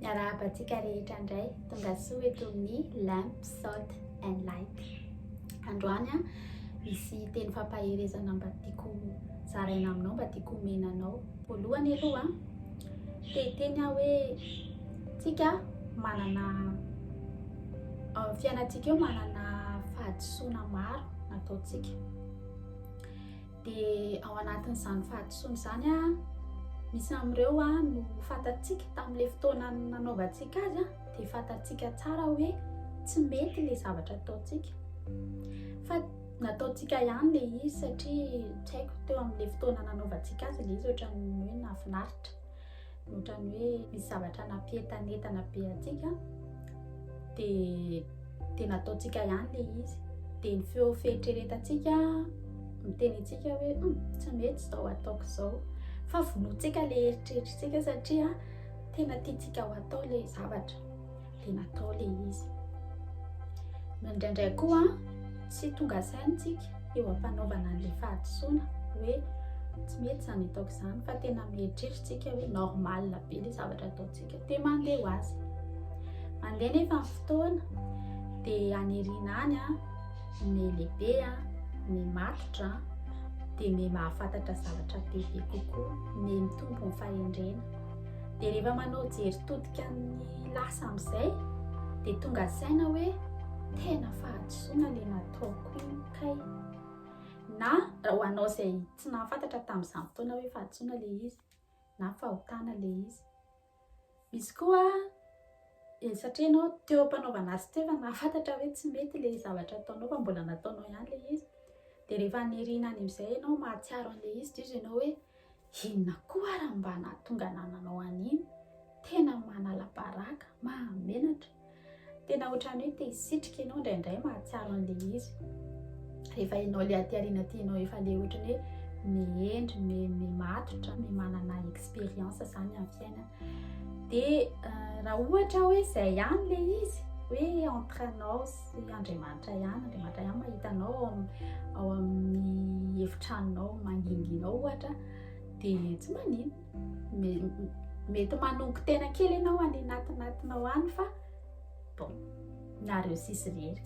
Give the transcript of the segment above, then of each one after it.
Miarahaba antsika rehetra indray, tonga soa eto amin'ny Lamp, Salt and Light. Androany an, misy teny fampaherezana mba tiako zaraina aminao, mba tiako omena anao. Voalohany aloha, te teny aho hoe tsika manana fiainantsika eo manana fahadisoana maro nataontsika. Dia ao anatin'izany fahadisoana izany, misy amin'ireo no fantatsika tamin'ilay fotoana nanaovantsika azy dia fantatsika tsara hoe tsy mety ilay zavatra ataontsika. Fa nataontsika ihany ilay izy satria tsy haiko teo amin'ilay fotoana nanaovantsika azy ilay izy ohatran'ny hoe nahafinaritra. Ny ohatran'ny hoe misy zavatra nampientanentana be antsika dia dia nataontsika ihany le izy dia ny feo fieritreretantsika miteny antsika hoe hmm, tsy mety izao ataoko izao fa vonoantsika le eritreritrintsika satria tena tiantsika ho atao le zavatra le natao le izy no indraindray koa tsy tonga saintsika eo ampanaovana an'le fahadisoana hoe tsy mety zany ataoko zany fa tena mieritreritsika hoe normal be le zavatra ataontsika de mandeha ho azy mandeha nefa ny fotoana de anirina any a ny lehibe a ny matotra de ny mahafantatra zavatra bebe kokoa ny mitombo ny fahendrena de rehefa manao jery todika ny Lasa amin'izay dia tonga saina hoe tena fahadisoana ilay nataoko iny kay. Na ho anao izay tsy nahafantatra tamin'izany fotoana hoe fahadisoana ilay izy na fahotana ilay izy. Misy koa eh, satria ianao teo am-panaovana azy teo efa nahafantatra hoe tsy mety ilay zavatra ataonao fa mbola nataonao ihany ilay izy. Dia rehefa nirina any amin'izay ianao mahatsiaro an'ilay izy dia izy ianao hoe Inona koa ary mba nahatonga anah nanao an'iny? Tena manala-baraka, mahamenatra. Tena ohatran'ny hoe te hisitrika ianao indraindray mahatsiaro an'ilay izy. Rehefa ianao ilay aty aoriana aty ianao efa ilay ohatran'ny hoe mihendry, mi- mimatotra, mi- manana expérience izany amin'ny fiainana. Dia raha ohatra hoe izay ihany ilay izy, hoe entre anao sy Tsy Andriamanitra ihany, Andriamanitra ihany mahita anao ao amin'ny ao amin'ny efitranonao mangingina ao ohatra dia tsy maninona. Mety manongo tena kely ianao any anatinatinao any fa bon nareo sisy rery.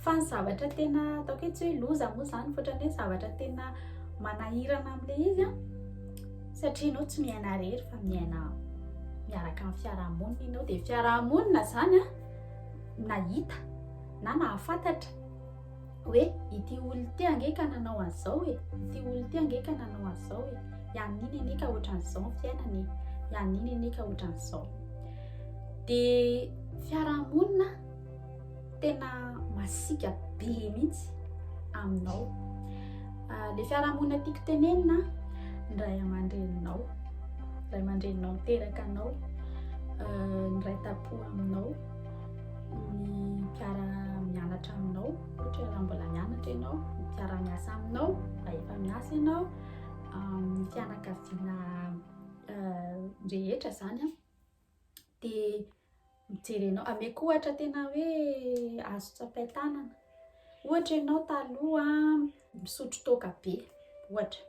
Fa ny zavatra tena ataoko hoe tsy hoe loza moa izany fa ohatran'ny hoe zavatra tena manahirana amin'ilay izy an satria ianao tsy miaina rery fa miaina miaraka amin'ny fiarahamonina ianao dia fiarahamonina izany an. nahita na nahafantatra hoe ity olona ity ange ka nanao an'izao e, ity olona ity ange ka nanao an'izao e, hianina anie ka ohatran'izao ny fiainana e, hianina anie ka ohatran'izao. Dia fiarahamonina tena masiaka be mihitsy aminao. Le fiarahamonina tiako tenenina ny ray aman-dreninao, ray aman-dreninao miteraka anao, niraitampo aminao, ny mpiara-mianatra aminao, ohatra raha mbola mianatra ianao, ny mpiara-miasa aminao raha efa miasa ianao, ny fianakaviana rehetra zany an. dia mijery anao, ameko ohatra tena hoe azo tsapain-tanana, ohatra ianao taloha misotro toaka be ohatra,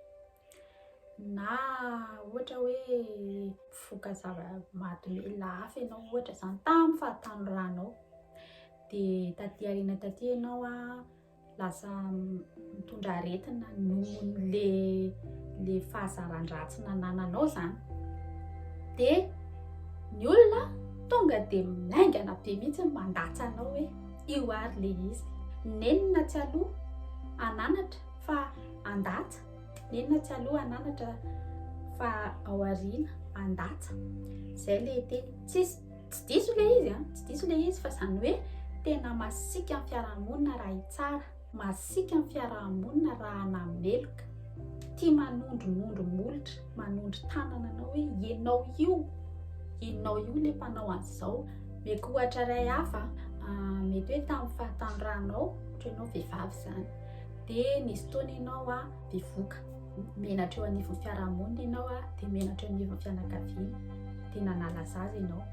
na ohatra hoe mifoka zava-mahadomelina hafa ianao ohatra izany tamin'ny fahatanorana anao, dia taty aoriana taty ianao an, Lasa mitondra aretina nohon'le le fahazaran-dratsy nanananao zany. De ny olona tonga de maingana be mihitsy ny mandatsa anao hoe io ary le izy. Nenina tsy aloha ananatra fa andatsa, nenina tsy aloha ananatra fa ao aoriana andatsa. Zay le teny. Tsisy Tsy diso ilay izy an, tsy diso ilay izy fa izany hoe tena masiaka ny fiarahamonina raha hitsara, masiaka ny fiarahamonina raha nameloka, tia manondronondro molotra, manondro tanana anao hoe ianao io, ianao io ilay mpanao an'izao. Meko ohatra iray hafa, ah, mety hoe tamin'ny fahatanorànao, ohatra ianao vehivavy izany, dia nisy fotoana ianao ah, bevoka. Menatra eo anivon'ny fiarahamonina ianao a, dia menatra eo anivon'ny fianakaviana, dia nanala zaza ianao.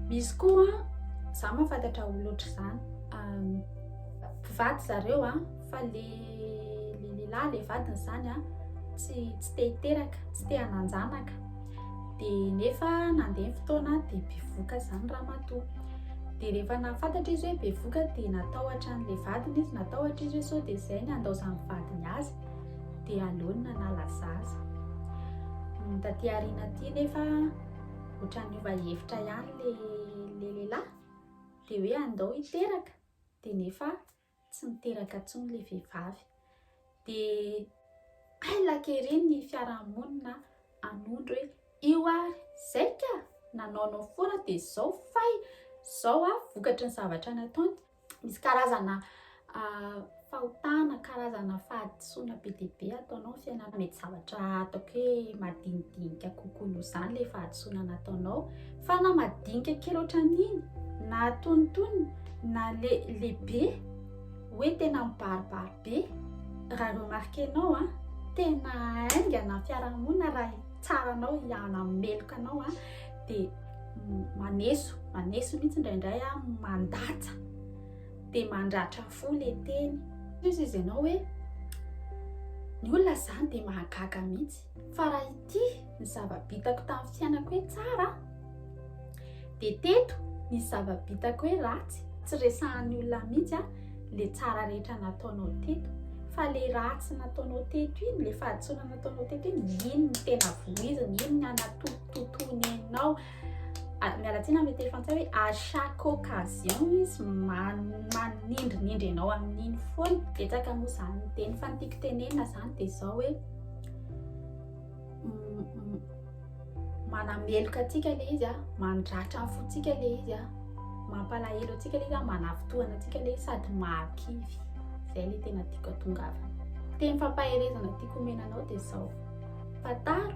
Misy koa, za mahafantatra ho loatra izany, mpivady zareo a, fa le le lehilahy le vadiny izany a, tsy tsy te hiteraka, tsy te hananjanaka. dia nefa nandeha ny fotoana dia bevoka izany ramatoa, dia rehefa nahafantatra izy hoe bevoka dia natahotra an'ilay vadiny izy, natahotra izy hoe sao dia izay ny handaozan'ny vadiny azy, dia aleony nanala zaza. Ny taty aoriana aty nefa ohatran'ny niova hevitra ihany ilay lehilahy dia hoe andao hiteraka dia nefa tsy miteraka tsony ilay vehivavy dia hay laky ery ny fiarahamonina hanondro hoe io ary izay ka nanaonao foana dia izao fay izao a vokatry ny zavatra nataony misy karazana fahotana karazana fahad Sonia be dia be ataonao ny fiainana mety zavatra ataoko hoe madinidinika kokoa noho izany ilay fahadisoana nataonao fa na madinika kely ohatran'iny na tonitony na le lehibe hoe tena mibaribary be raha remarquenao a tena haingana fiarahamonina raha tsara anao ihana meloka anao a dia maneso maneso mihitsy indraindray a mandatsa dia mandratra fo le teny. Izy izy ianao hoe ny olona izany dia mahagaga mihitsy fa raha ity ny zava-bitako tamin'ny fiainako hoe tsara dia teto ny zava-bitako hoe ratsy tsy resahan'ny olona mihitsy a le tsara rehetra nataonao teto fa le ratsy nataonao teto iny le fahadisoana nataonao teto iny iny ny tena voizina iny ny anatotototoiny enao Ah, miala tsiny amin'ny telo frantsay hoe à chaque occasion izy manindrinindry ianao amin'iny foana betsaka moa izany ny teny fa ny tiako tenenina izany dia izao hoe mm, mm, manameloka antsika le izy a mandratra ny fontsika le izy a mampalahelo antsika le izy a manavitohana antsika le izy sady mahakivy izay le tena tiako atongavana teny fampaherezana tiako omenanao dia izao fataro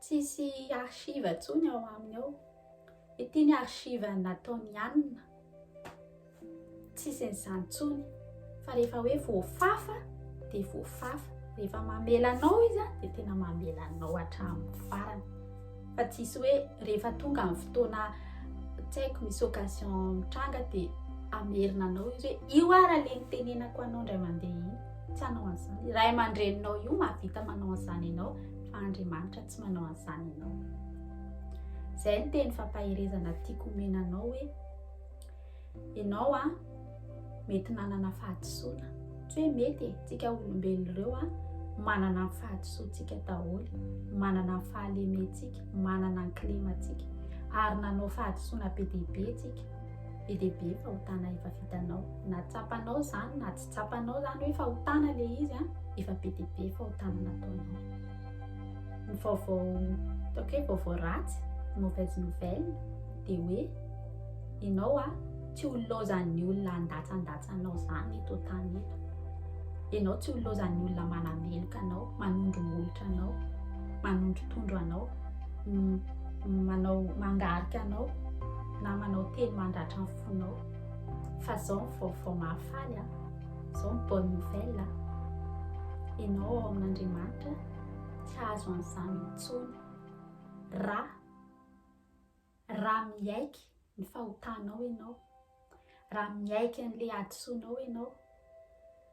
Tsisy archive intsony ao aminy ao. Ity ny archive nataon'i Anna. Tsisy an'izany intsony. Fa rehefa hoe voafafa dia voafafa. Rehefa mamela anao izy dia tena mamela anao hatramin'ny farany. Fa tsisy hoe rehefa tonga amin'ny fotoana tsy haiko misy occasion mitranga dia hamerina anao izy hoe io ara le nitenenako anao indray mandeha iny. tsy hanao an'izany ray aman-dreninao io mahavita manao an'izany ianao fa andriamanitra tsy manao an'izany ianao zay ny teny fampaherezana tiako omena anao hoe ianao a mety nanana fahadisoana tsy hoe mety e tsika olombelona ireo a manana ny fahadisoantsika daholo manana ny fahalementsika manana ny klimatsika ary nanao fahadisoana be dehibe tsika be dehibe fa hotana efa vitanao natsapanao zany na tsy Tsapanao zany hoe fahotana le izy a, efa be dia be fahotana nataonao. Ny vaovao ataoko hoe vaovao ratsy, mauvaise nouvelle, dia hoe ianao a tsy ho laozan'ny olona handatsandatsa anao zany eto an-tany eto. Ianao tsy ho laozan'ny olona manameloka anao, manondro molotra anao, manondrotondro anao, manao mangarika anao na manao teny mandratra ny fonao. Fa zao ny vaovao mahafaly a, zao ny bonne nouvelle a, ianao ao amin'Andriamanitra tsy hahazo an'izany intsony ra ra miaiky ny fahotanao ianao, ra miaiky an'le hadisoanao ianao,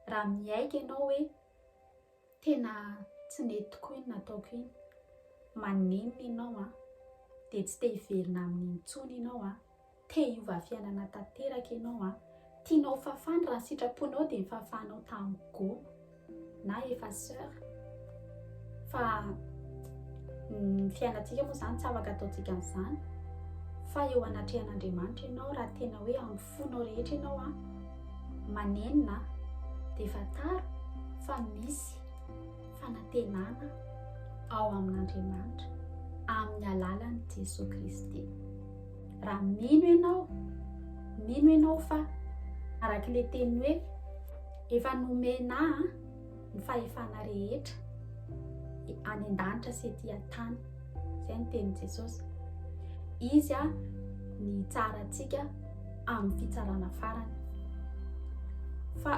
ra miaiky ianao hoe Tena tsy nety tokoa iny nataoko iny, maninona ianao an! dia tsy te hiverina aminy intsony ianao an! te hiova fiainana tanteraka ianao an! tianao ho fafana, raha ny sitraponao dia nifafanao tamin'i Go na Effaceur fa ny fiainantsika moa izany tsy afaka ataontsika an'izany fa eo anatrehan'Andriamanitra ianao raha tena hoe fonao rehetra ianao an, manenina an, dia fantaro fa misy fanantenana ao amin'Andriamanitra amin'ny alalan'i Jesoa Kristy. Raha mino ianao, mino ianao fa arak'ilay teny hoe efa nomena an, ny fahefana rehetra any an-danitra sy ety an-tany izay ny tenin'i jesosy izy a ny tsarantsika amin'ny fitsarana farany fa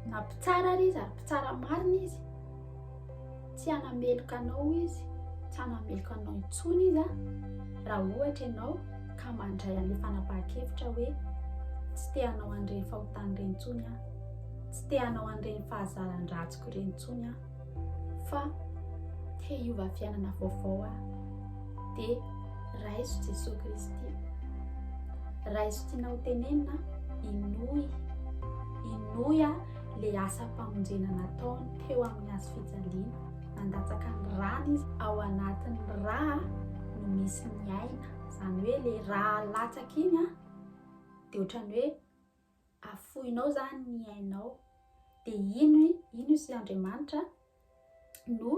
na mpitsara ary izy ary mpitsara marina izy tsy hanameloka anao izy tsy hanameloka anao intsony izy a raha ohatra ianao ka mandray an'le fanapahan-kevitra hoe tsy te hanao an'ireny fahotana ireny intsony a Tsy te hanao an'ireny fahazaran-dratsiko ireny intsony aho, fa te hiova fiainana vaovao aho. Dia raiso Jesoa Kristy. Raiso tianao tenenina, inoy. Inoy aho le asam-pamonjena nataony teo amin'ny hazo fijaliana. Nandatsaka ny rany izy. Ao anatin'ny ra no misy ny aina. Izany hoe le ra latsaka iny dia ohatran'ny hoe afoinao zany ny ainao de ino ino sy Andriamanitra no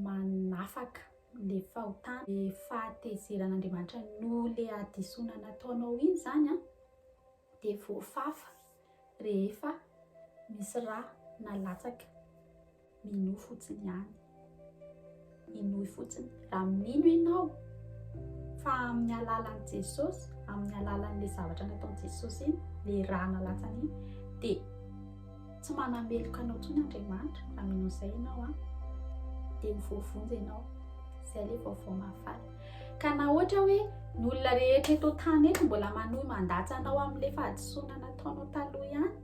manafaka le fahotana le fahatezeran'Andriamanitra noho le hadisoana nataonao iny zany an de voafafa rehefa misy rà na latsaka Minoa fotsiny ihany. Inoy fotsiny. Raha mino ianao fa amin'ny alalan'i Jesosy, amin'ny alalan'ilay zavatra nataon'i Jesosy iny, ilay rà nalatsany iny, dia tsy manameloka anao intsony Andriamanitra raha mino izay ianao an. Dia ho voavonjy ianao. Izay ilay vaovao mahafaly. Ka na ohatra hoe ny olona rehetra eto an-tany eto mbola manohy mandatsa anao amin'ilay fahadisoana nataonao taloha ihany,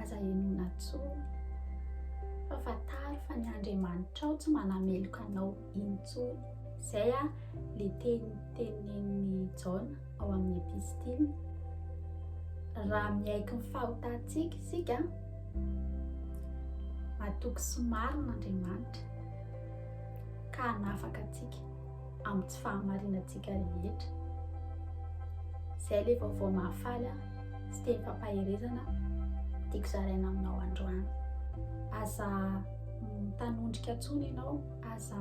Aza henoina intsony, fa fantaro fa ny Andriamanitrao tsy manameloka anao intsony. Izay ilay teny tenenin'i Jaona ao amin'ny epistiliny. Raha miaiky ny fahotantsika isika, matoky sy marina Andriamanitra ka hanafaka antsika. amin'ny tsy fahamarinantsika rehetra. Izay ilay vaovao mahafaly ahy sy tenim-pampaherezana tiako zaraina aminao androany. Aza mitanondrika intsony ianao, aza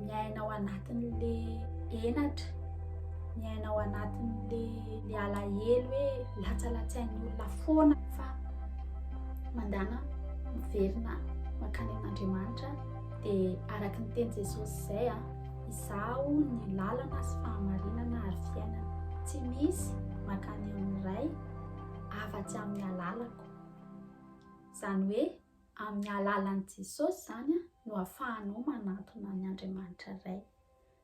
miaina ao anatin'le henatra, miaina ao anatin'le le alahelo hoe latsalatsain'ny olona foana fa mandana miverina mankany amin'Andriamanitra dia araka ny teny Jesosy izay a. Ah. Izaho ny lalana sy fahamarinana ary fiainana. Tsy misy mankany amin'ny Ray afa-tsy amin'ny alalako. Izany hoe amin'ny alalan'i Jesosy izany no ahafahanao manantona an'i Andriamanitra Ray.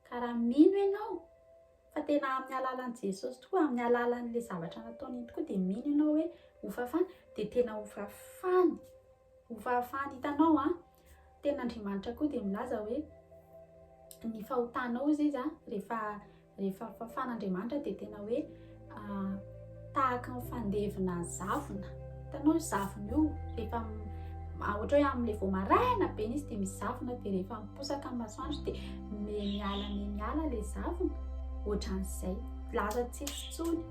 Ka raha mino ianao fa tena amin'ny alalan'i Jesosy tokoa, amin'ny alalan'ilay zavatra nataony iny tokoa dia mino ianao hoe ho fafana, dia tena ho fafana. Ho fahafahany hitanao an! Tena Andriamanitra koa dia milaza hoe ny fahotanao hozy izy an, rehefa rehefa fafan'Andriamanitra dia tena hoe tahaka ny fandevina zavona, hitanao io zavona io rehefa ohatra hoe amin'ilay vao maraina be izy dia mizavona dia rehefa miposaka ny masoandro dia miha miala miha miala ilay zavona, ohatran'izay, laza tsy hisy intsony.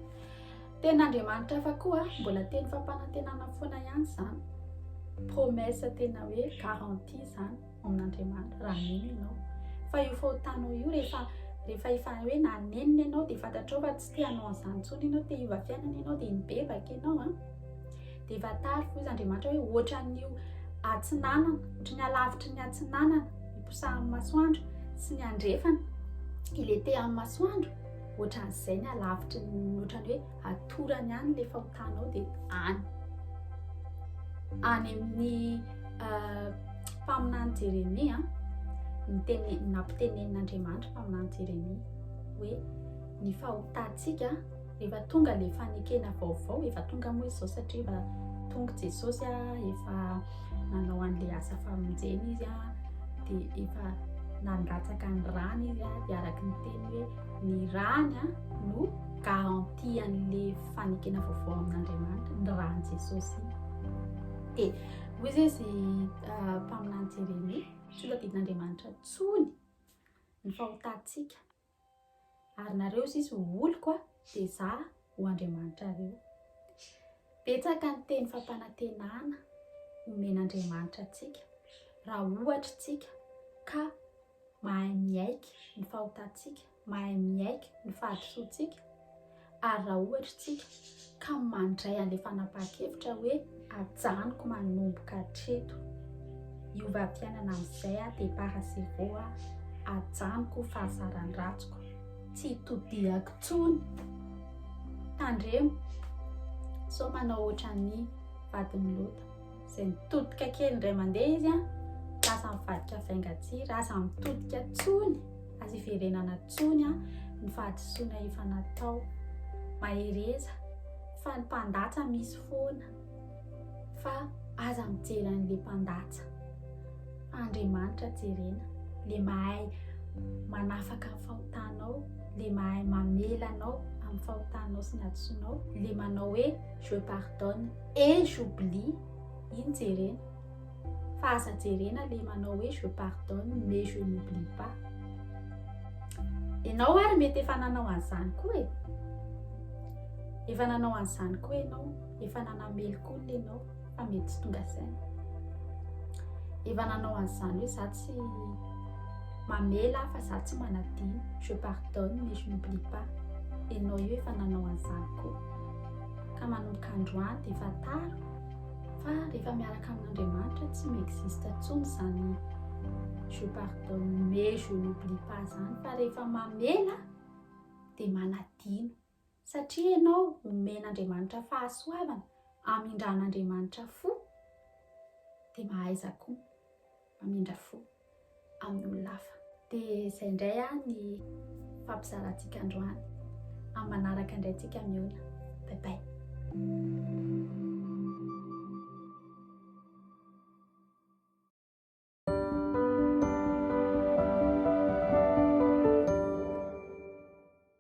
Tenin'Andriamanitra hafa koa mbola teny fampanantenana foana ihany izany. Promesse tena hoe garantie izany ao amin'Andriamanitra raha mino ianao. Fa io fahotanao io rehefa rehefa efa hoe nanenina ianao dia fantatrao fa tsy te hanao an'izany intsony ianao, te hiova fiainana ianao dia mibebaka ianao an. Dia efa tara hoy izy Andriamanitra hoe ohatran'io atsinanana, ohatry ny alavitry ny atsinanana iposahan'ny masoandro sy ny andrefana ilay te amin'ny masoandro. Ohatran'izay ny alavitry ny ohatran'ny hoe atorany any ilay fahotanao dia any. Any amin'ny euh, mpaminany Jeremia, mitene nampitenenin'Andriamanitra mpaminany Jeremia hoe ny fahotantsika rehefa tonga ilay fanekena vaovao efa tonga moa izao satria efa tonga Jesosy a efa nanao an'ilay asa famonjena izy a dia efa nandratsaka ny rany izy a dia araka ny teny hoe ny rany a no garanti an'ilay fanekena vaovao amin'andriamanitra ny rany jesosy dia hoy zay zy ah, mpaminany jeremia tsy ho tadidin'andriamanitra tsony ny fahotantsika Ary nareo sisa ho oloko a, dia za ho Andriamanitrareo. Betsaka ny teny fampanantenana omen'Andriamanitra antsika raha ohatra isika ka mahay miaiky ny fahotantsika, mahay miaiky ny fahadisoantsika. Ary raha ohatra isika ka mandray an'ilay fanapahan-kevitra hoe ajanoko manomboka hatreto, hiova fiainana amin'izay aho, départ à zéro aho, ajanoko fahazaran-dratsiko, tsy hitodihako intsony, tandremo sao manao ohatran'ny vadin'i Lota. izay mitodika kely indray mandeha izy an ka aza mivadika vaingatsiry aza mitodika tsony aza iverenana tsony an ny fahadisoana efa natao mahereza fa ny mpandatsa misy foana fa aza mijery an'le mpandatsa fa andriamanitra jerena le mahay manafaka ny fahotanao le mahay mamelanao amin'ny fahotanao sy ny hadisoanao le manao hoe je pardonne Et j'oublie, iny jerena fa aza jerena le manao hoe je pardonne mais je n'oublie pas. Enao ary mety efa nanao an'izany koa e. Efa nanao an'izany koa enao, efa nanamely koa le enao fa mety tsy tonga saina. Efa nanao an'izany hoe za tsy mamela fa za tsy manadino, je pardonne mais je n'oublie pas. Enao io efa nanao an'izany koa. ka manomboka androany dia efa tara fa rehefa miaraka amin'Andriamanitra tsy mi-existe intsony izany je pardonne mais je n'oublie pas izany fa rehefa mamela dia manadino satria ianao omen'Andriamanitra fahasoavana amindran'Andriamanitra fo dia mahaiza koa Mamindra fo amin'ny olona hafa. Dia izay indray an ny fampizarantsika androany. Amin'ny manaraka indray antsika mihaona. Bye bye.